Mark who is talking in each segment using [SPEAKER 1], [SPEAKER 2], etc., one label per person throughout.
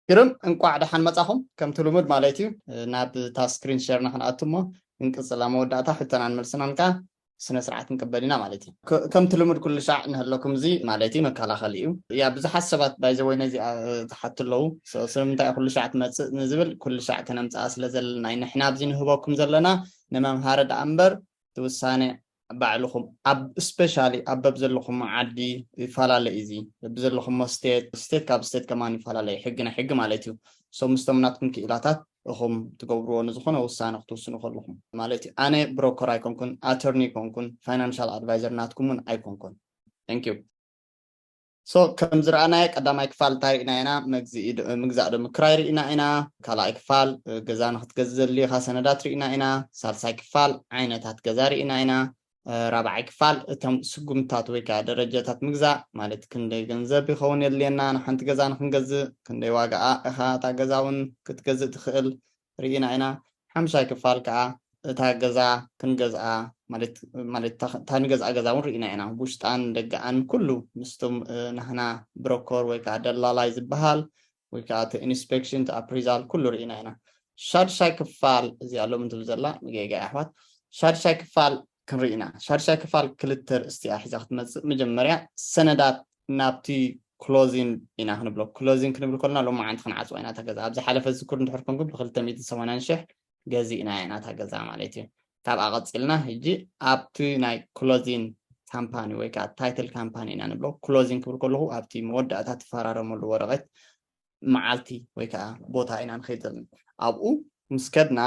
[SPEAKER 1] ግርም እንቋዕ ደሓን መጻኹም ከምቲ ልሙድ ማለት እዩ ናብታ ስክሪን ሸርና ክንኣቱ እሞ ክንቅጽል ኣብ መወዳእታ ሕቶናን መልስናን ከኣ ስነ ስርዓት ንቅበል ኢና ማለት እዩ ከምቲ ልሙድ ኩሉ ሻዕ ንህለኩም እዚ ማለት እዩ መከላኸሊ እዩ ያ ብዙሓት ሰባት ባይዘወይ ነዚኣ ዝሓቱ ኣለዉ ስለምንታይ እዩ ኩሉ ሻዕ ትመጽእ ንዝብል ኩሉ ሻዕ ከነምጽኣ ስለ ዘለና እዩ ንሕና ኣብዚ ንህበኩም ዘለና ንመምሃሪ ደኣ እምበር እቲ ውሳነ ባዕልኹም ኣብ እስፔሻሊ ኣብ በብዘለኹሞ ዓዲ ይፈላለ እዩ እዚ በብዘለኹሞ ስቴት ስቴት ካብ ስቴት ከማን ይፈላለ እዩ ሕጊ ናይ ሕጊ ማለት እዩ ሶ ምስቶም ናትኩም ክኢላታት እኹም ትገብርዎ ንዝኾነ ውሳነ ክትውስኑ ከለኹም ማለት እዩ ኣነ ብሮከር ኣይኮንኩን ኣተርኒ ኣይኮንኩን ፋይናንሻል ኣድቫይዘር ናትኩም እውን ኣይኮንኩን ታንኪዩ So ከም ዝረኣናዮ ቀዳማይ ክፋል እንታይ ርኢና ኢና መግዝኢ ምግዛእ ዶ ምክራይ ርኢና ኢና ካልኣይ ክፋል ገዛ ንክትገዝእ ዘድልዩካ ሰነዳት ርኢና ኢና ሳልሳይ ክፋል ዓይነታት ገዛ ርኢና ኢና ራብዓይ ክፋል እቶም ስጉምትታት ወይ ከዓ ደረጃታት ምግዛእ ማለት ክንደይ ገንዘብ ይኸውን የድልየና ንሓንቲ ገዛ ንክንገዝእ ክንደይ ዋጋኣ እኻ እታ ገዛ እውን ክትገዝእ ትኽእል ሪኢና ኢና ሓምሻይ ክፋል ከኣ እታ ገዛ ክንገዝኣ ማለት ማለት እታ ንገዝኣ ገዛ ውን ሪኢና ኢና ቡሽጣን ደገኣን ኩሉ ምስ ቶም ናህና ብሮኮር ወይ ከኣ ደላላይ ዝብሃል ወይ ከኣ እቲ ኢንስፔክሽን እቲ ኣፕሪዛል ኩሉ ሪኢና ኢና ሻድሻይ ክፋል እዚኣ ሎሚ ትብል ዘላ ንጌጋ እያ ኣሕዋት ሻድሻይ ክፋል ክንሪኢ ኢና ሻዱሻይ ክፋል ክልተ ርእስቲ እያ ሒዛ ክትመጽእ መጀመርያ ሰነዳት ናብቲ ክሎዚን ኢና ክንብሎ ክሎዚን ክንብል ከለና ሎማዓንቲ ክንዓጽዋ ኢና እታ ገዛ ኣብ ዝሓለፈ ዝዝክሩ እንድሕር ኮንኩም ብክልተ ሚእትን ሰማንያን ሽሕ ገዚእና ኢና እታ ገዛ ማለት እዩ ካብኣ ቀፂልና ሕጂ ኣብቲ ናይ ክሎዚን ካምፓኒ ወይ ከዓ ታይትል ካምፓኒ ኢና ንብሎ ክሎዚን ክብል ከለኹ ኣብቲ መወዳእታ ትፈራረመሉ ወረቐት መዓልቲ ወይ ከዓ ቦታ ኢና ንኸይድ ዘለና ኣብኡ ምስ ከድና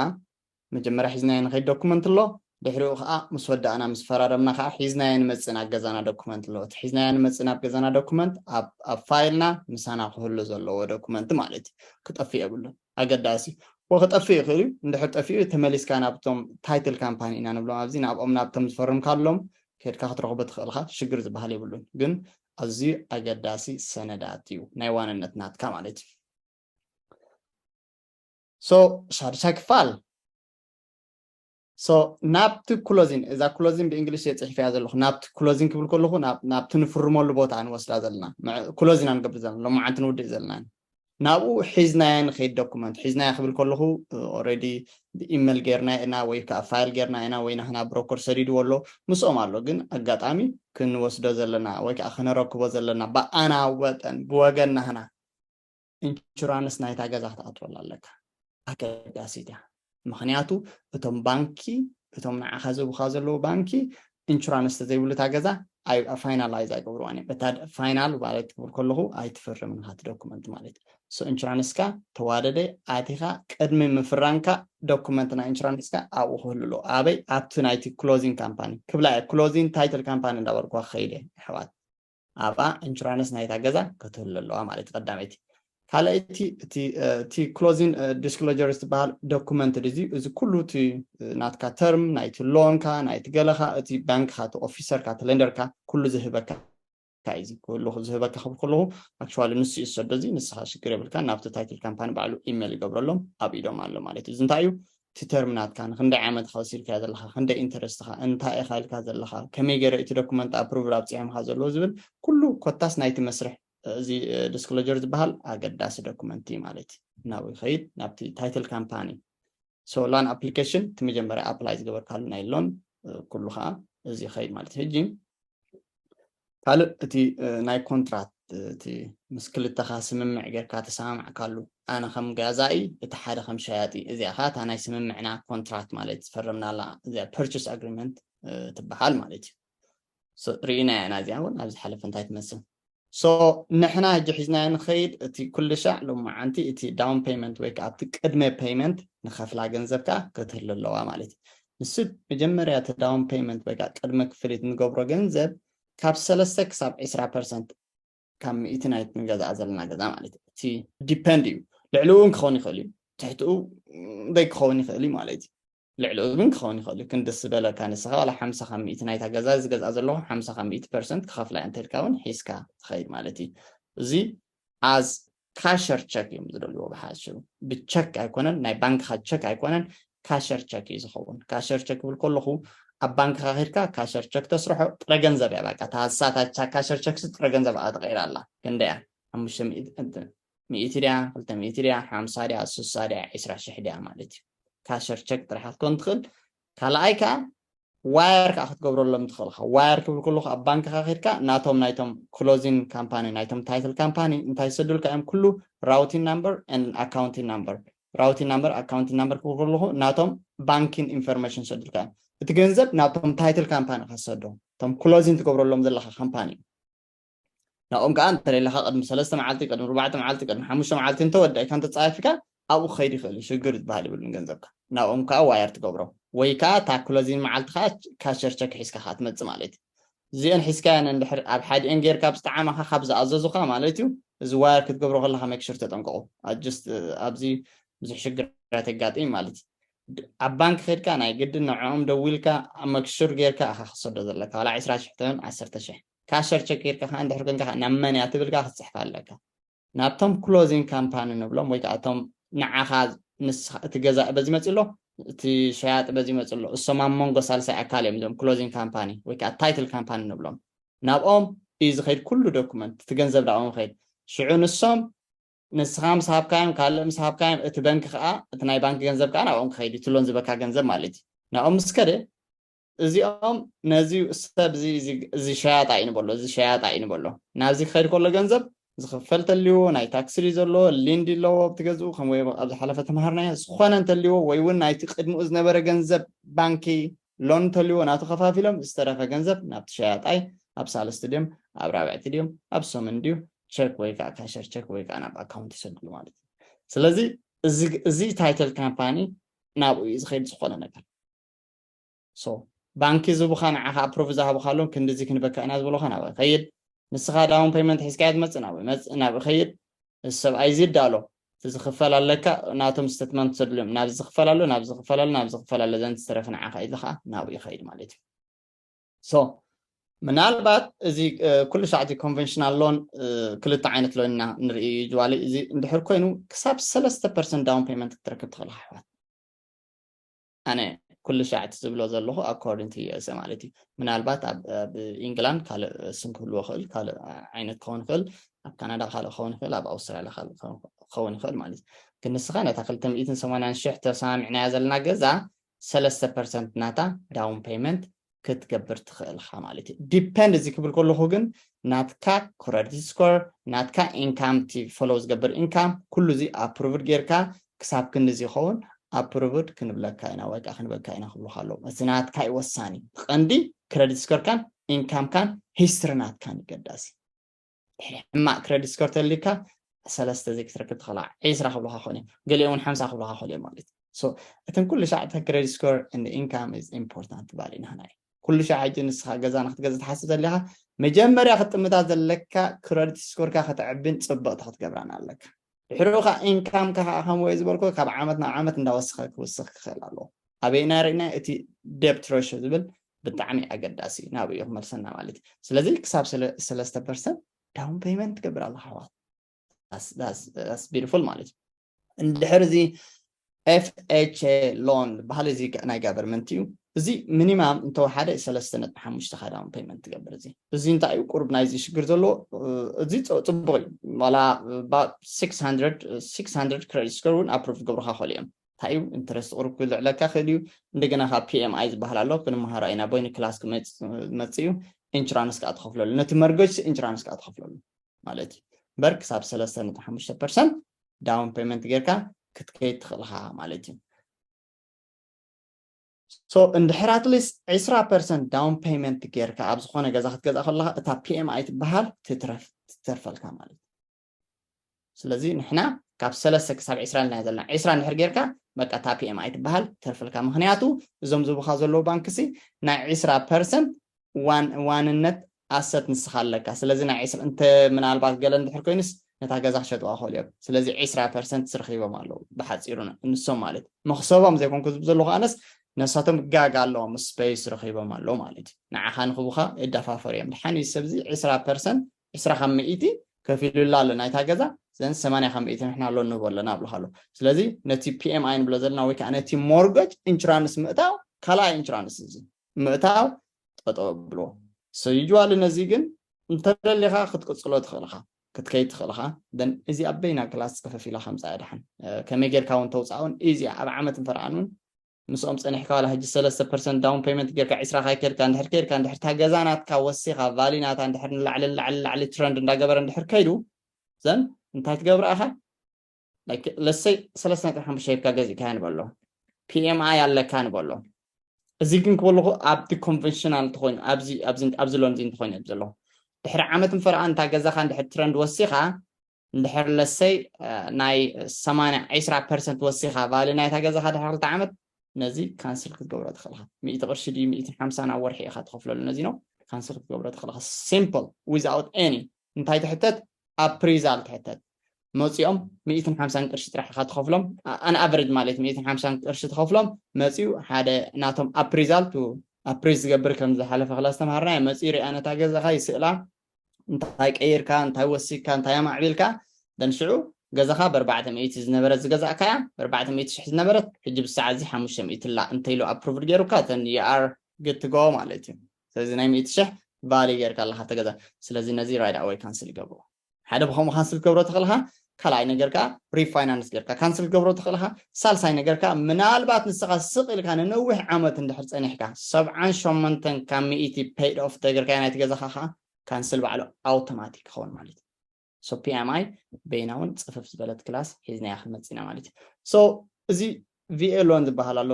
[SPEAKER 1] መጀመርያ ሒዝናዮ ንኸይድ ዶኩመንት ኣሎ ድሕሪኡ ከኣ ምስ ወዳእና ምስ ፈራረምና ከኣ ሒዝናዮ ንመጽእ ናብ ገዛና ዶኩመንት ኣሎ እቲ ሒዝናዮ ንመጽእ ናብ ገዛና ዶኩመንት ኣብ ኣብ ፋይልና ምሳና ክህሉ ዘለዎ ዶኩመንት ማለት እዩ ክጠፍእ የብሉን ኣገዳሲ እዩ ወክጠፍእ ይኽእል እዩ እንድሕር ጠፊኡ ተመሊስካ ናብቶም ታይትል ካምፓኒ ኢና ንብሎም ኣብዚ ናብኦም ናብቶም ዝፈርምካሎም ከድካ ክትረኽቦ ትኽእል ኢኻ ሽግር ዝበሃል የብሉን ግን ኣዝዩ ኣገዳሲ ሰነዳት እዩ ናይ ዋንነት ናትካ ማለት እዩ ሶ ሻዱሻይ ክፋል ሶ ናብቲ ክሎዚን እዛ ክሎዚን ብእንግሊሽ እየ ፅሒፈያ ዘለኹ ናብቲ ክሎዚን ክብል ከለኹ ናብቲ ንፍርመሉ ቦታ ንወስዳ ዘለና ክሎዝ ኢና ንገብር ዘለና ሎማዓንቲ ንውድእ ዘለና ናብኡ ሒዝናያ ንኸይድ ዶኩመንት ሒዝናያ ክብል ከለኹ ኦረዲ ብኢመል ጌርና ኢና ወይ ከዓ ፋይል ጌርና ኢና ወይ ናህና ብሮኮር ሰዲድዎ ኣሎ ምስኦም ኣሎ ግን ኣጋጣሚ ክንወስዶ ዘለና ወይ ከዓ ክነረክቦ ዘለና ብኣና ወጠን ብወገን ናህና ኢንሹራንስ ናይታ ገዛ ክትኣትወላ ኣለካ ኣገዳሲት እያ ምክንያቱ እቶም ባንኪ እቶም ንዓኻ ዝህቡካ ዘለዉ ባንኪ ኢንሹራንስ ተዘይብሉ እታ ገዛ ፋይናላይዝ ኣይገብርዋን እዮም እታ ፋይናል ማለት ትብር ከለኹ ኣይትፍርም ንካ ዶኩመንት ማለት እዩ ኢንሹራንስካ ተዋደደ ኣቲኻ ቅድሚ ምፍራንካ ዶኩመንት ናይ ኢንሹራንስካ ኣብኡ ክህሉ ኣለዎ ኣበይ ኣብቲ ናይቲ ክሎዚንግ ካምፓኒ ክብላ እየ ክሎዚንግ ታይትል ካምፓኒ እንዳበልኩዋ ክኸይድ እየ ኣሕዋት ኣብኣ ኢንሹራንስ ናይታ ገዛ ከትህሉ ኣለዋ ማለት እዩ ቀዳመይቲ ካልኣይቲ እቲ ክሎዚን ዲስክሎጀር ዝበሃል ዶኩመንት እዚ እዚ ኩሉ እቲ ናትካ ተርም ናይቲ ሎንካ ናይቲ ገለካ እቲ ባንክካ እቲ ኦፊሰርካ እቲ ሌንደርካ ኩሉ ዝህበካ እንታይ እዚ ክህሉ ዝህበካ ክብል ከለኹ ኣክቹዋሊ ንሱ እዩ ዝሰዶ እዚ ንስኻ ሽግር የብልካ ናብቲ ታይትል ካምፓኒ ባዕሉ ኢሜል ይገብረሎም ኣብ ኢዶም ኣሎ ማለት እዩ እዚ እንታይ እዩ እቲ ተርም ናትካ ንክንደይ ዓመት ኢካ ወሲድካዮ ዘለካ ክንደይ ኢንተረስትካ እንታይ ኢካ ኢልካ ዘለካ ከመይ ገረ እቲ ዶኩመንት ኣፕሩቭድ ኣብፂሖምካ ዘለዉ ዝብል ኩሉ ኮታስ ናይቲ መስርሕ እዚ ዲስክሎጀር ዝበሃል ኣገዳሲ ዶኩመንት እዩ ማለት እዩ ናብኡ ይኸይድ ናብቲ ታይትል ካምፓኒ ሶ ላን ኣፕሊኬሽን እቲ መጀመርያ ኣፕላይ ዝገበርካሉ ናይ ሎን ኩሉ ከዓ እዚ ይኸይድ ማለት እዩ ሕጂ ካልእ እቲ ናይ ኮንትራት እቲ ምስ ክልተኻ ስምምዕ ጌርካ ተሰማማዕካሉ ኣነ ከም ጋዛኢ እቲ ሓደ ከም ሸያጢ እዚኣ ከኣ እታ ናይ ስምምዕና ኮንትራት ማለት ዝፈረምናላ እዚኣ ፐርቸስ ኣግሪመንት ትበሃል ማለት እዩ ርኢናያ ኢና እዚኣ እውን ኣብ ዝሓለፈ እንታይ ትመስል ሶ ንሕና ሕጂ ሒዝናዮ ንኸይድ እቲ ኩልሻዕ ሎማዓንቲ እቲ ዳውን ፔይመንት ወይ ከዓ ኣብቲ ቅድመ ፔይመንት ንኸፍላ ገንዘብ ከዓ ክትህሉ ኣለዋ ማለት እዩ ንሱ መጀመርያ እቲ ዳውን ፐይመንት ወይከዓ ቅድመ ክፍሊት ንገብሮ ገንዘብ ካብ ሰለስተ ክሳብ ዕስራ ፐርሰንት ካብ ሚእቲ ናይቲ ንገዝኣ ዘለና ገዛ ማለት እዩ እቲ ዲፐንድ እዩ ልዕሊኡ እውን ክኸውን ይኽእል እዩ ትሕትኡ ዘይክኸውን ይኽእል እዩ ማለት እዩ ልዕሊኡ ግን ክኸውን ይኽእል እዩ ክንዲ ዝበለካ ንስኻ ዋላ ሓምሳ ካብ ሚእቲ ናይታ ገዛ ዝገዝኣ ዘለኹ ሓምሳ ካብ ሚእቲ ፐርሰንት ክኸፍላ እየ እንተልካ እውን ሒዝካ ትኸይድ ማለት እዩ እዚ as ካሸር ቸክ እዮም ዝደልዎ ብሓፂሩ ብቸክ ኣይኮነን ናይ ባንክኻ ቸክ ኣይኮነን ካሸር ቸክ እዩ ዝኸውን ካሸር ቸክ ክብል ከለኹ ኣብ ባንክኻ ኪድካ ካሸር ቸክ ተስርሖ ጥረ ገንዘብ እያ በቃ ታሳታቻ ካሸር ቸክሲ ጥረ ገንዘብ ኣ ተቐይራ ኣላ ክንደይ እያ ሓሙሽተ ሚእቲ ድያ ክልተ ሚእቲ ድያ ሓምሳ ድያ ስሳ ድያ ዒስራ ሽሕ ድያ ማለት እዩ ካሸር ቸክ ጥራሕ ክትኮን ትኽእል ካልኣይ ከዓ ዋየር ከዓ ክትገብረሎም ትኽእል ኢኻ ዋየር ክብል ከለኹ ኣብ ባንክኻ ኬድካ ናቶም ናይቶም ክሎዚን ካምፓኒ ናይቶም ታይትል ካምፓኒ እንታይ ይሰዱልካ እዮም ኩሉ ራውቲን ናምበር ን ኣካውንቲን ናምበር ራውቲን ናምበር ኣካውንቲን ናምበር ክብል ከለኹ ናቶም ባንኪን ኢንፎርሜሽን ይሰዱልካ እዮም እቲ ገንዘብ ናብቶም ታይትል ካምፓኒ ከሰዶ እቶም ክሎዚን ትገብረሎም ዘለካ ካምፓኒ እዩ ናብኦም ከኣ እንተደሊኻ ቅድሚ ሰለስተ መዓልቲ ቅድሚ ኣርባዕተ መዓልቲ ቅድሚ ሓሙሽተ መዓልቲ እንተወዳኢካ እንተጻይፍካ ኣብኡ ክኸይድ ይኽእል እዩ ሽግር ዝበሃል የብሉን ገንዘብካ ናብኦም ከኣ ዋየር ትገብሮም ወይ ከኣ እታ ክሎዚን መዓልቲ ከኣ ካሸር ቸክ ሒዝካ ከኣ ትመጽእ ማለት እዩ እዚኤን ሒዝካየን እንድሕር ኣብ ሓዲኤን ጌርካ ኣብ ዝጠዓመኻ ካብ ዝኣዘዙኻ ማለት እዩ እዚ ዋየር ክትገብሮ ከለኻ ሜክሽር ተጠንቀቑ ኣጅስት ኣብዚ ብዙሕ ሽግራት የጋጥም ማለት እዩ ኣብ ባንክ ኸድካ ናይ ግድን ንዕኦም ደዊልካ መክሹር ጌርካ ኢኻ ክሰዶ ዘለካ ዋላ ዕስራ ሽሕ ትኹን ዓሰርተ ሽሕ ካሸር ቸክ ጌርካ ከኣ እንድሕር ኮንካ ከኣ ናብ መን እያ ትብል ከኣ ክትጽሕፋ ኣለካ። ናብቶም ክሎዚንግ ካምፓኒ ንብሎም ወይ ከኣ እቶም ንዓኻ ንስኻ እቲ ገዛኢ በዚ መጺኡ ኣሎ እቲ ሸያጢ በዚ መጺኡ ኣሎ እሶም ኣብ መንጎ ሳልሳይ ኣካል እዮም እዞም ክሎዚንግ ካምፓኒ ወይ ከኣ ታይትል ካምፓኒ ንብሎም ናብኦም እዩ ዝኸይድ ኩሉ ዶኩመንት እቲ ገንዘብ ናብኦም ይኸይድ ሽዑ ንሶም ንስኻ ምስ ሃብካዮም ካልእ ምስ ሃብካዮም እቲ በንኪ ከኣ እቲ ናይ ባንኪ ገንዘብ ከኣ ናብኦም ክኸይድ እዩ እቲ ሎን ዝበካ ገንዘብ ማለት እዩ ናብኦም ምስ ከደ እዚኦም ነዚ ሰብ እዚ እዚ ሸያጣ እዩ ንበሎ እዚ ሸያጣ እዩ ንበሎ ናብዚ ክኸይድ ከሎ ገንዘብ ዝኽፈል ተልዎ ናይ ታክሲ ድዩ ዘለዎ ሊንዲ ኣለዎ ኣብቲ ገዝኡ ከም ወይ ኣብ ዝሓለፈ ተምሃርናዮ ዝኾነ እንተልዎ ወይ እውን ናይቲ ቅድሚኡ ዝነበረ ገንዘብ ባንኪ ሎን እንተልዎ ናቱ ከፋፊሎም ዝተረፈ ገንዘብ ናብቲ ሸያጣይ ኣብ ሳልስቲ ድዮም ኣብ ራብዕቲ ድዮም ኣብ ሰሙን ድዩ ቸክ ወይ ከዓ ካሸር ቸክ ወይ ከዓ ናብ ኣካውንት ይሰድሉ ማለት እዩ ስለዚ እዚ ታይትል ካምፓኒ ናብኡ እዩ ዝኸይድ ዝኾነ ነገር so ባንኪ ዝቡካ ንዓካ ኣፕሩቭ ዝሃቡካሉን ክንድዚ ክንበካ ኢና ዝበሉካ ናበይ ይከይድ ንስካ ዳውን ፐይመንት ሒዝካዮ ትመጽእ ናበይ ይመጽእ ናበይ ይከይድ እዚ ሰብኣይ እዚ ዳሎ እቲ ዝክፈል ኣለካ ናቶም ስተትመንት ዘድልዮም ናብዚ ዝክፈል ኣሎ ናብዚ ዝክፈል ኣሎ ናብዚ ዝክፈል ኣሎ ዘን ዝተረፈ ንዓካ ኢሉ ከዓ ናብኡ ይከይድ ማለት እዩ so ምናልባት እዚ ኩሉ ሰዓት እዚ ኮንቨንሽናል ሎን ክልተ ዓይነት ሎን ኢና ንርኢ እዩ ጅዋሊ እዚ እንድሕር ኮይኑ ክሳብ ሰለስተ ፐርሰንት ዳውን ፔመንት ክትረክብ ትኽእል ኣሕዋት ኣነ ኩሉ ሻዕ እቲ ዝብሎ ዘለኹ ኣኮርዲንግ ቱ ዩ ኤስ ማለት እዩ ምናልባት ኣብ ኢንግላንድ ካልእ ስም ክህልዎ ይኽእል ካልእ ዓይነት ክኸውን ይኽእል ኣብ ካናዳ ካልእ ክኸውን ይኽእል ኣብ ኣውስትራልያ ካልእ ክኸውን ይኽእል ማለት እዩ ግን ንስኻ ነታ ክልተ ሚእትን ሰማንያን ሽሕ ተሰማሚዕናያ ዘለና ገዛ ሰለስተ ፐርሰንት ናታ ዳውን ፔይመንት ክትገብር ትኽእል ኢኻ ማለት እዩ ዲፐንድ እዚ ክብል ከለኹ ግን ናትካ ክረዲት ስኮር ናትካ ኢንካም እቲ ፈሎ ዝገብር ኢንካም ኩሉ እዚ ኣፕሩቭድ ጌርካ ክሳብ ክንዲ ዝኸውን ኣፕሩቭድ ክንብለካ ኢና ወይ ከዓ ክንበካ ኢና ክብሉካ ኣለዉ እቲ ናትካ እዩ ወሳኒ ቀንዲ ክረዲት ስኮርካን ኢንካምካን ሂስትሪ ናትካን ይገዳሲ ድሕሪ ሕማቅ ክረዲት ስኮር ተልዩካ ሰለስተ ዘይክትረክብ ትኽእል ዒስራ ክብሉካ ክኾን እዮም ገሊኦም እውን ሓምሳ ክብሉካ ክኽእል እዮም ማለት እዩ ሶ እተን ኩሉ ሻዕ እታ ክረዲት ስኮር እንድ ኢንካም ኢዝ ኢምፖርታንት ትበሃል ኢና ናይ ኩሉ ሻዕ ሕጂ ንስኻ ገዛ ንክትገዝእ ትሓስብ ዘለካ መጀመርያ ክትጥምታ ዘለካ ክረዲት ስኮርካ ከተዕብን ፅብቕቲ ክትገብራን ኣለካ ድሕሪኡ ከዓ ኢንካምካ ከዓ ከምኡ ዝበልኩ ካብ ዓመት ናብ ዓመት እንዳወስኸ ክውስኽ ክኽእል ኣለዎ ኣበይና ርኢና እቲ ደብት ረሾ ዝብል ብጣዕሚ ኣገዳሲ እዩ ናብኡ እዩ ክመልሰና ማለት እዩ ስለዚ ክሳብ ሰለስተ ፐርሰንት ዳውን ፔይመንት ትገብር ኣለካ ኣሕዋት ዳስ ቢዩቲፉል ማለት እዩ እንድሕር እዚ ኤፍኤችኤ ሎን ዝበሃል እዚ ናይ ጋቨርመንት እዩ እዚ ሚኒማም እንተወሓደ ሰለስተ ነጥቢ ሓሙሽተ ካ ዳውን ፔይመንት ትገብር እዚ እዚ እንታይ እዩ ቁርብ ናይዚ ሽግር ዘለዎ እዚ ፅቡቅ እዩ ዋላ 600 ክሬዲት ስኮር እውን ኣፕሮቭ ክገብሩካ ክእሉ እዮም እንታይ እዩ ኢንተረስት ቁሩብ ክልዕለካ ክእል እዩ እንደገና ካብ PMI ዝበሃል ኣሎ ክንመሃሮ ኣይና ቦይኒ ክላስ ክመጽእ እዩ ኢንሹራንስ ከዓ ትኸፍለሉ ነቲ መርገጅ ኢንሹራንስ ከዓ ትኸፍለሉ ማለት እዩ እምበር ክሳብ ሰለስተ ነጥቢ ሓሙሽተ ፐርሰንት ዳውን ፔመንት ጌርካ ክትከይድ ትኽእል ኢኻ ማለት እዩ ሶ እንድሕር ኣትሊስት ዕስራ ፐርሰንት ዳውን ፔመንት ጌርካ ኣብ ዝኾነ ገዛ ክትገዛ ከለካ እታ ፒኤምኣይ ትበሃል ትተርፈልካ ማለት እዩ ስለዚ ንሕና ካብ ሰለስተ ክሳብ ዕስራ ኢልና ዘለና ዕስራ እንድሕር ጌርካ በቃ እታ ፒኤም ኣይትበሃል ተርፍልካ ምክንያቱ እዞም ዝብኻ ዘለዉ ባንክሲ ናይ ዕስራ ፐርሰንት ዋንነት ኣሰት ንስኻ ኣለካ ስለዚ ናይ ዕስራ እንተ ምናልባት ገለ እንድሕር ኮይኑስ ነታ ገዛ ክሸጥዋ ክኽእሉ እዮም ስለዚ ዕስራ ፐርሰንት ስረኪቦም ኣለዉ ብሓፂሩ ንሶም ማለት መክሰቦም ዘይኮንኩ ዝብ ዘለኹ ኣነስ ነሳቶም ጋግ ኣለዎም ስፔስ ረኪቦም ኣለዉ ማለት እዩ ንዓኻ ንክቡካ እዳፋፈሩ እዮም ድሓን እዩ ሰብዚ ዕስራ ፐርሰንት ዕስራ ካብ ሚእቲ ከፊሉላ ኣሎ ናይታ ገዛ ዘን ሰማንያ ካብ ሚእቲ ንሕና ሎን ንህቦ ኣለና ኣብልካ ኣሎ ስለዚ ነቲ ፒኤምኣይ ንብሎ ዘለና ወይ ከዓ ነቲ ሞርገጅ ኢንሹራንስ ምእታው ካልኣይ ኢንሹራንስ እዚ ምእታው ጠጠው ኣብልዎ ሰዩጅዋሊ ነዚ ግን እንተደሊኻ ክትቅፅሎ ትኽእል ኢኻ ክትከይድ ትኽእል ኢኻ ደን እዚ ኣበይና ክላስ ፅፍፍ ኢላ ከምፃ እያ ደሓን ከመይ ጌርካ እውን ተውፃእ እውን ኢዚ ኣብ ዓመት እንተረኣን እውን ምስኦም ጸኒሕካ ዋላ ሕጂ ሰለስተ ፐርሰንት ዳውን ፐይመንት ጌርካ ዕስራ ካይከድካ እንድሕር ከይድካ እንድሕር እታ ገዛ ናትካ ወሲኻ ቫልዩ ናታ እንድሕር ንላዕሊ ንላዕሊ ንላዕሊ ትረንድ እንዳገበረ እንድሕር ከይዱ ዘን እንታይ ትገብር ኢኻ like let's say ሰለስተ ነጥቢ ሓሙሽተ ሂብካ ገዚእካያ ንበሎ PMI ኣለካ ንበሎ እዚ ግን ክበልኹ ኣብቲ ኮንቨንሽናል እንተኾይኑ ኣብዚ ኣብዚ ኣብዚ ሎንዚ እንተኾይኑ ዘሎ ድሕሪ ዓመት ምፈረኣ እንታ ገዛኻ እንድሕር ትረንድ ወሲኻ እንድሕር ለሰይ ናይ ሰማንያ ዒስራ ፐርሰንት ወሲኻ ቫልዩ ናይታ ገዛኻ ድሕሪ ክልተ ዓመት ነዚ ካንስል ክትገብሮ ትኽእል ኢኻ ሚእቲ ቅርሺ ድዩ ሚእቲ ሓምሳን ኣብ ወርሒ ኢኻ ትኸፍለሉ ነዚ ነው ካንስል ክትገብሮ ትኽእል ኢኻ ሲምፕል ዊዝኣውት ኤኒ እንታይ ትሕተት ኣፕሪዛል ትሕተት መፂኦም ሚእትን ሓምሳን ቅርሺ ጥራሕ ኢኻ ትኸፍሎም ኣንኣቨሬጅ ማለት ሚእትን ሓምሳን ቅርሺ ትኸፍሎም መፂኡ ሓደ ናቶም ኣፕሪዛል ቱ ኣፕሪዝ ዝገብር ከም ዝሓለፈ ክላ ዝተምሃርና መፂኡ ሪኣ ነታ ገዛኻ ይስእላ እንታይ ቀይርካ እንታይ ወሲካ እንታይ ኣማዕቢልካ ደን ሽዑ ገዛኻ በርባዕተ ሚእቲ ዝነበረት ዝገዛእካያ በርባዕተ ሚእቲ ሽሕ ዝነበረት ሕጂ ብሰዓት እዚ ሓሙሽተ ሚእቲ ኣላ እንተኢሉ ኣፕሩቭድ ገይሩካ ተን የኣር ግትጎ ማለት እዩ ስለዚ ናይ ሚእቲ ሽሕ ቫሊ ገይርካ ኣለካ ተገዛ ስለዚ ነዚ ራይድ ኣወይ ካንስል ይገብሮ ሓደ ብከምኡ ካንስል ክትገብሮ ተኽእልካ ካልኣይ ነገር ከኣ ሪፋይናንስ ጌርካ ካንስል ክትገብሮ ትኽእል ኢኻ። ሳልሳይ ነገር ከኣ ምናልባት ንስኻ ስቕ ኢልካ ንነዊሕ ዓመት እንድሕር ጸኒሕካ ሰብዓን ሸሞንተን ካብ ሚእቲ ፐይድ ኦፍ እንተገርካዮ ናይቲ ገዛኻ ከኣ ካንስል ባዕሉ ኣውቶማቲክ ክኸውን ማለት እዩ። ሶ ፒኤምኣይ በይና እውን ጽፍፍ ዝበለት ክላስ ሒዝናያ ክንመጽእ ኢና ማለት እዩ። ሶ እዚ ቪኤ ሎን ዝበሃል ኣሎ፣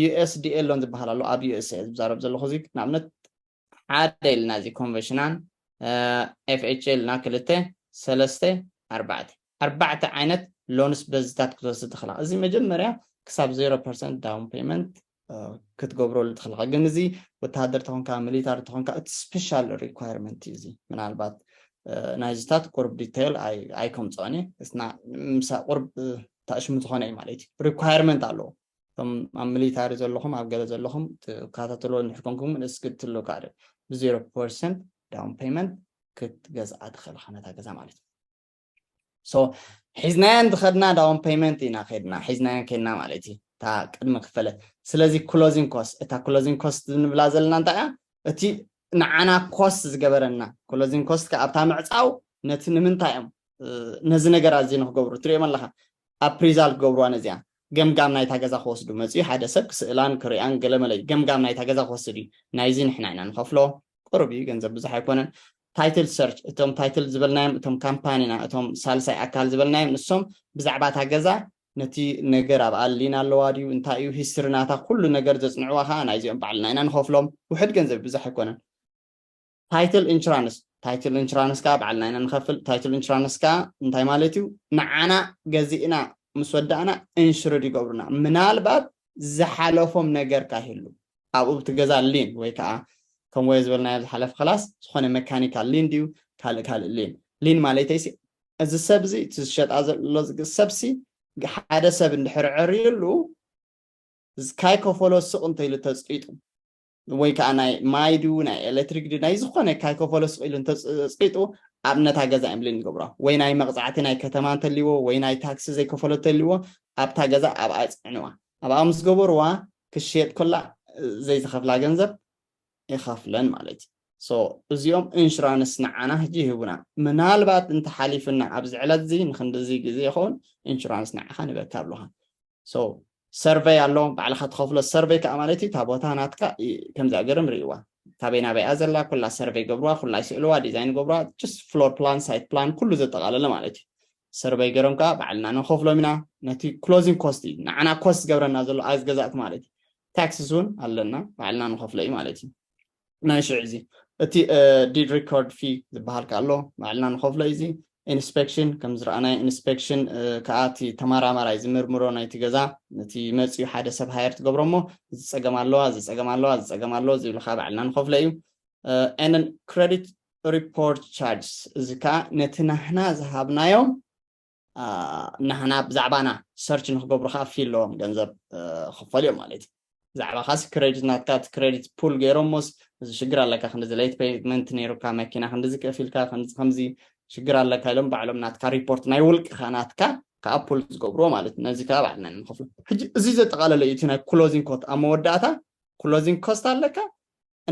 [SPEAKER 1] ዩኤስዲኤ ሎን ዝበሃል ኣሎ ኣብ ዩኤስኤ ዝዛረብ ዘለኹ እዚ ንኣብነት ሓደ ኢልና እዚ ኮንቨሽናን ኤፍኤች ኢልና ክልተ ሰለስተ ኣርባዕተ ኣርባዕተ ዓይነት ሎንስ በዝታት ክትወስድ ትኽእልኻ እዚ መጀመርያ ክሳብ ዜሮ ፐርሰንት ዳውን ፔመንት ክትገብረሉ ትኽእልኻ ግን እዚ ወተሃደር ተኾንካ ሚሊታሪ ተኾንካ እቲ ስፔሻል ሪኳርመንት እዩ እዚ ምናልባት ናይዝታት ቁርብ ዲቴይል ኣይከምፅኦን እየ ቁርብ ታእሽሙ ዝኾነ እዩ ማለት እዩ ሪኳርመንት ኣለዎ እቶም ኣብ ሚሊታሪ ዘለኹም ኣብ ገለ ዘለኹም ትከታተልዎ እንድሕር ኮንኩም እስኪ ትልካዕ ብዜሮ ፐርሰንት ዳውን ፔመንት ክትገዝኣ ትኽእል ኢኻ ነታ ገዛ ማለት እዩ ሶ ሒዝናያ እንድኸድና ዳውን ፔመንት ኢና ከድና ሒዝናያ ከድና ማለት እዩ እታ ቅድሚ ክፈለት ስለዚ ክሎዚንግ ኮስት እታ ክሎዚንግ ኮስት ንብላ ዘለና እንታይ እያ እቲ ንዓና ኮስት ዝገበረና ክሎዚንግ ኮስት ከዓ ኣብታ ምዕፃው ነቲ ንምንታይ እዮም ነዚ ነገር ኣዚ ንክገብሩ ትሪኦም ኣለካ ኣፕሪዛል ክገብርዋ ነዚኣ ገምጋም ናይታ ገዛ ክወስዱ መጽዩ ሓደ ሰብ ክስእላን ክሪኣን ገለ መለ እዩ ገምጋም ናይታ ገዛ ክወስድ እዩ ናይዚ ንሕና ኢና ንኸፍሎ ቁሩብ እዩ ገንዘብ ብዙሕ ኣይኮነን ታይትል ሰርች እቶም ታይትል ዝበልናዮም እቶም ካምፓኒና እቶም ሳልሳይ ኣካል ዝበልናዮም ንሶም ብዛዕባ እታ ገዛ ነቲ ነገር ኣብኣ ሊን ኣለዋ ድዩ እንታይ እዩ ሂስትሪ ናታ ኩሉ ነገር ዘጽንዕዋ ከኣ ናይዚኦም ባዕልና ኢና ንኸፍሎም ውሕድ ገንዘብ ብዙሕ ኣይኮነን ታይትል ኢንሹራንስ ታይትል ኢንሹራንስ ከዓ ባዕልና ኢና ንኸፍል ታይትል ኢንሹራንስ ከዓ እንታይ ማለት እዩ ንዓና ገዚእና ምስ ወዳእና ኢንሹርድ ይገብሩና ምናልባት ዝሓለፎም ነገር ካይህሉ ኣብኡ ብቲ ገዛ ሊን ወይ ከዓ ከም ወየ ዝበልናዮ ዝሓለፈ ክላስ ዝኾነ መካኒካል ሊን ድዩ ካልእ ካልእ ሊን ሊን ማለተይሲ እዚ ሰብ እዚ እቲ ዝሸጣ ዘሎ ሰብሲ ሓደ ሰብ እንድሕር ዕርዩሉ ካይ ከፈሎ ስቕ እንተይሉ ተፅጢጡ ወይ ከዓ ናይ ማይ ድዩ ናይ ኤሌክትሪክ ድዩ ናይ ዝኾነ ካይከፈሎ ስቕ ኢሉ እንተፀቂጡ ኣብ ነታ ገዛ እዮም ብሌን ዝገብሮ ወይ ናይ መቕፃዕቲ ናይ ከተማ እንተልዎ ወይ ናይ ታክሲ ዘይከፈሎ እንተልዎ ኣብታ ገዛ ኣብኣ የፅዕንዋ ኣብኣ ምስ ገበርዋ ክሽየጥ ከላ ዘይዝኸፍላ ገንዘብ ይኸፍለን ማለት እዩ ሶ እዚኦም ኢንሹራንስ ንዓና ሕጂ ይህቡና ምናልባት እንተሓሊፉና ኣብዚ ዕለት እዚ ንክንድዚ ግዜ ይኸውን ኢንሹራንስ ንዓኻ ንበካ ብልኻ so ሰርቨይ ኣሎ ባዕልኻ ትኸፍሎ ሰርቨይ ከዓ ማለት እዩ እታ ቦታ ናትካ ከምዚኣ ገርም ርእይዋ ካበይ ናበይ እያ ዘላ ኩላ ሰርቨይ ገብርዋ ኩላ ይስእልዋ ዲዛይን ገብርዋ ጅስት ፍሎር ፕላን ሳይት ፕላን ኩሉ ዘጠቓለለ ማለት እዩ ሰርቨይ ገሮም ከዓ ባዕልና ንኸፍሎም ኢና ነቲ ክሎዚንግ ኮስት እዩ ንዓና ኮስት ዝገብረና ዘሎ ኣዝ ገዛእቲ ማለት እዩ ታክስስ እውን ኣለና ባዕልና ንኸፍሎ እዩ ማለት እዩ ናይ ሽዕ እዚ እቲ ዲድ ሪኮርድ ፊ ዝበሃል ከ ኣሎ ባዕልና ንኸፍሎ እዩ እዚ ኢንስፔክሽን ከም ዝረኣናይ ኢንስፔክሽን ከዓ እቲ ተማራማራይ ዝምርምሮ ናይቲ ገዛ ነቲ መፅኡ ሓደ ሰብ ሃየር ትገብሮ እሞ እዚ ፀገም ኣለዋ እዚ ፀገም ኣለዋ እዚ ፀገም ኣለዎ ዝብሉ ከዓ ባዕልና ንኸፍሎ እዩ ኤንን ክሬዲት ሪፖርት ቻርጅስ እዚ ከዓ ነቲ ናህና ዝሃብናዮም ናህና ብዛዕባና ሰርች ንክገብሩ ከዓ ፊ ኣለዎም ገንዘብ ክፈሉ እዮም ማለት እዩ ብዛዕባካስ ክሬዲት ናትካ እቲ ክሬዲት ፑል ገይሮሞስ እዚ ሽግር ኣለካ ክንዲዚ ለይት ፔመንት ነይሩካ መኪና ክንዲዚ ከፊልካ ከምዚ ከምዚ ሽግር ኣለካ ኢሎም ባዕሎም ናትካ ሪፖርት ናይ ውልቅካ ናትካ ከዓ ፑል ዝገብርዎ ማለት እዩ ነዚ ከዓ ባዕልና ንከፍሎ ሕጂ እዚ ዘጠቃለለ እዩ እቲ ናይ ክሎዚንግ ኮት ኣብ መወዳእታ ክሎዚንግ ኮስት ኣለካ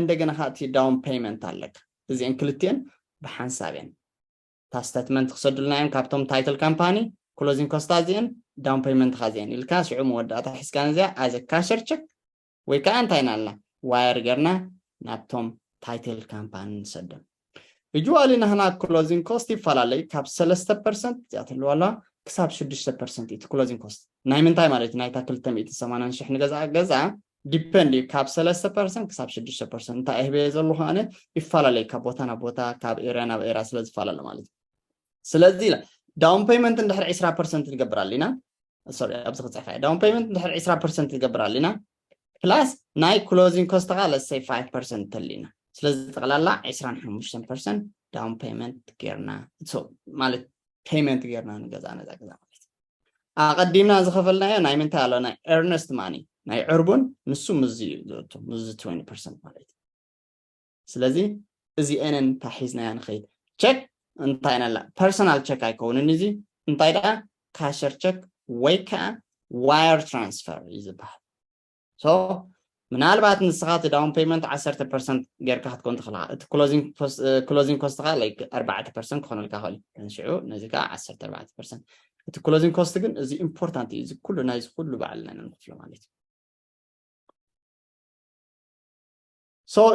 [SPEAKER 1] እንደገና ከዓ እቲ ዳውን ፔመንት ኣለካ እዚአን ክልቲአን ብሓንሳብ እየን እታ ስተትመንት ክሰዱልና እዮም ካብቶም ታይትል ካምፓኒ ክሎዚንግ ኮስታ እዚኤን ዳውን ፔመንትካ እዚኤን ኢልካ ሽዑ መወዳእታ ሒዝካ ነዚኣ ኣዘ ካሸር ቸክ ወይ ከዓ እንታይ ኢና ኣልና ዋየር ገርና ናብቶም ታይትል ካምፓኒ ንሰዶም ዩዋሊ ናህና ክሎዚንግ ኮስት ይፈላለዩ ካብ ሰለስተ ፐርሰንት እዚኣ ትህልዋ ኣለዋ ክሳብ ሽዱሽተ ፐርሰንት እዩ ክሎዚንግ ኮስት ናይ ምንታይ ማለት እዩ ናይታ ክልተ ሚእቲ ሰማንያን ሽሕ ንገዛ ገዛ ዲፐንድ እዩ ካብ ሰለስተ ፐርሰንት ክሳብ ሽዱሽተ ፐርሰንት እንታይ እህበየ ዘለኹ ኣነ ይፈላለዩ ካብ ቦታ ናብ ቦታ ካብ ኤርያ ናብ ኤርያ ስለ ዝፈላለ ማለት እዩ ስለዚ ኢለ ዳውን ፔይመንት እንድሕር ዕስራ ፐርሰንት ንገብር ኣለና ሶሪ ኣብዚ ክፅሕፋ እየ ዳውን ፔይመንት እንድሕር ዕስራ ፐርሰንት ንገብር ኣለና ፕላስ ናይ ክሎዚንግ ኮስት ከዓ ለሰይ ፋይቭ ፐርሰንት ተሊና ስለዚ ጠቕላላ ዕስራን ሓሙሽተን ፐርሰንት ዳውን ፔይመንት ጌርና ማለት ፔይመንት ጌርና ንገዛ ነዛ ገዛ ማለት ኣቐዲምና ዝኸፈልናዮ ናይ ምንታይ ኣሎ ናይ ኤርነስት ማኒ ናይ ዕርቡን ንሱ ምዚ እዩ ዝእቱ ምዚ 20 ፐርሰንት ማለት እዩ ስለዚ እዚኤንን ታሒዝናያ ንኸይድ ቸክ እንታይ ነላ ፐርሰናል ቸክ ኣይከውንን እዚ እንታይ ደኣ ካሸር ቸክ ወይ ከዓ ዋየር ትራንስፈር እዩ ዝበሃል ሶ ምናልባት ንስኻ እቲ ዳውን ፔመንት ዓሰርተ ፐርሰንት ጌርካ ክትከውን ትኽእል ኢኻ እቲ ክሎዚንግ ኮስትኻ ላይክ ኣርባዕተ ፐርሰንት ክኾነልካ ይኽእል እዩ ሽዑ ነዚ ከዓ ዓሰርተ ኣርባዕተ ፐርሰንት እቲ ክሎዚንግ ኮስት ግን እዚ ኢምፖርታንት እዩ እዚ ኩሉ ናይዚ ኩሉ በዓልና ኢና ንኽፍሎ ማለት እዩ ሶ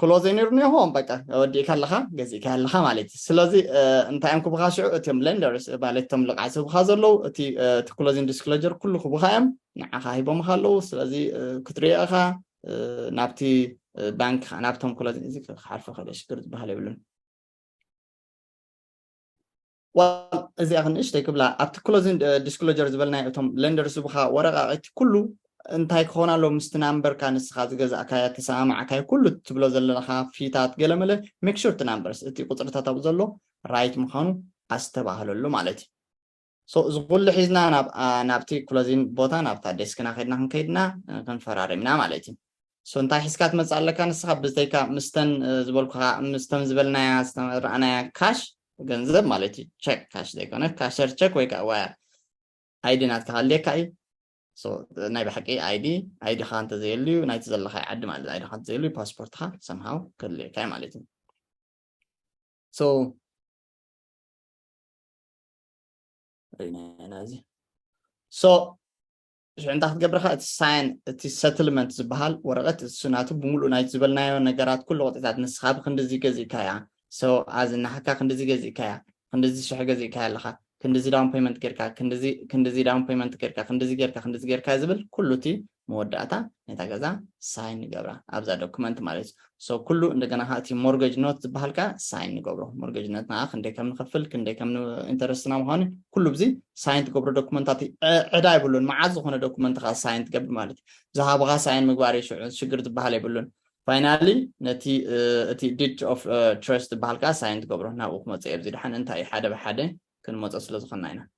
[SPEAKER 1] ክሎዘይ ነይሩ ኒሆም በቃ ወዲእካ ኣለኻ ገዚእካ ኣለኻ ማለት እዩ ስለዚ እንታይ እዮም ክብኻ ሽዑ እቲም ሌንደርስ ማለት እቶም ልቕዓት ዝህብኻ ዘለዉ እቲ ክሎዚን ዲስክሎጀር ኩሉ ክብኻ እዮም ንዓኻ ሂቦምኻ ኣለዉ ስለዚ ክትሪኦ ኢኻ ናብቲ ባንክ ከዓ ናብቶም ክሎዚን እዚ ክሓልፎ ከለ ሽግር ዝበሃል የብሉን ዋላ እዚኣ ክንእሽተይ ክብላ ኣብቲ ክሎዚን ዲስክሎጀር ዝበልናዮ እቶም ለንደር ዝቡኻ ወረቃቂቲ ኩሉ እንታይ ክኾን ኣሎ ምስቲ ናምበርካ ንስኻ ዝገዛእካያ ተሰማማዕካዮ ኩሉ ትብሎ ዘለኻ ፊታት ገለመለ ሜክ ሹር እቲ ናምበርስ እቲ ቁፅርታት ኣብኡ ዘሎ ራይት ምዃኑ ኣስተባህለሉ ማለት እዩ ሶ እዚ ኩሉ ሒዝና ናብቲ ክሎዚን ቦታ ናብታ ዴስክና ከድና ክንከይድና ክንፈራሪምና ማለት እዩ so እንታይ ሒዝካ ትመጽእ ኣለካ ንስኻ ብዝተይካ ምስተን ዝበልኩኻ ምስተን ዝበልናያ ዝተረኣናያ ካሽ ገንዘብ ማለት እዩ ቸክ ካሽ ዘይኮነ ካሸር ቸክ ወይ ከዓ ዋያ ኣይዲ ናትካ ሃልየካ እዩ ናይ ብሓቂ ኣይዲ ኣይድኻ እንተዘየሉ እዩ ናይቲ ዘለካ ዓዲ ማለት ኣይድኻ እንተዘየሉ እዩ ፓስፖርትካ ሰምሃው ከድልየካ እዩ ማለት እዩ ሶ ሪናና እዚ ሶ ሽዑ እንታይ ክትገብር ከ እቲ ሳይን እቲ ሰትልመንት ዝበሃል ወረቐት እሱ ናቱ ብምሉእ ናይቲ ዝበልናዮ ነገራት ኩሉ ቅጥዒታት ንስኻ ብክንዲዚ ገዚእካያ ሰው ኣዚ ናህካ ክንዲዚ ገዚእካያ ክንዲዚ ሽሕ ገዚእካያ ኣለኻ ክንዲዚ ዳውን ፔመንት ጌርካ ክንዲዚ ክንዲዚ ዳውን ፔመንት ጌርካ ክንዲዚ ጌርካ ክንዲዚ ጌርካ ዝብል ኩሉ እቲ መወዳእታ ነታ ገዛ ሳይን ንገብራ ኣብዛ ዶክመንት ማለት እዩ so ኩሉ እንደገና ከኣ እቲ ሞርገጅ ኖት ዝበሃል ከኣ ሳይን ንገብሮ ሞርገጅ ኖት ንኣ ክንደይ ከም ንኸፍል ክንደይ ከም ኢንተረስትና ምዃኑ ኩሉ ብዚ ሳይን ትገብሮ ዶኩመንታት ዕዳ የብሉን መዓዝ ዝኾነ ዶኩመንት ከኣ ሳይን ትገብር ማለት እዩ ዝሃብኻ ሳይን ምግባር እዩ ሽዑ ሽግር ዝበሃል የብሉን ፋይናሊ ነቲ እቲ ዲድ ኦፍ ትረስት ዝበሃል ከዓ ሳይን ትገብሮ ናብኡ ክመፅእ እየ ኣብዚ ድሓን እንታይ ሓደ ብሓደ ክንመፆ ስለ ዝኾንና ኢና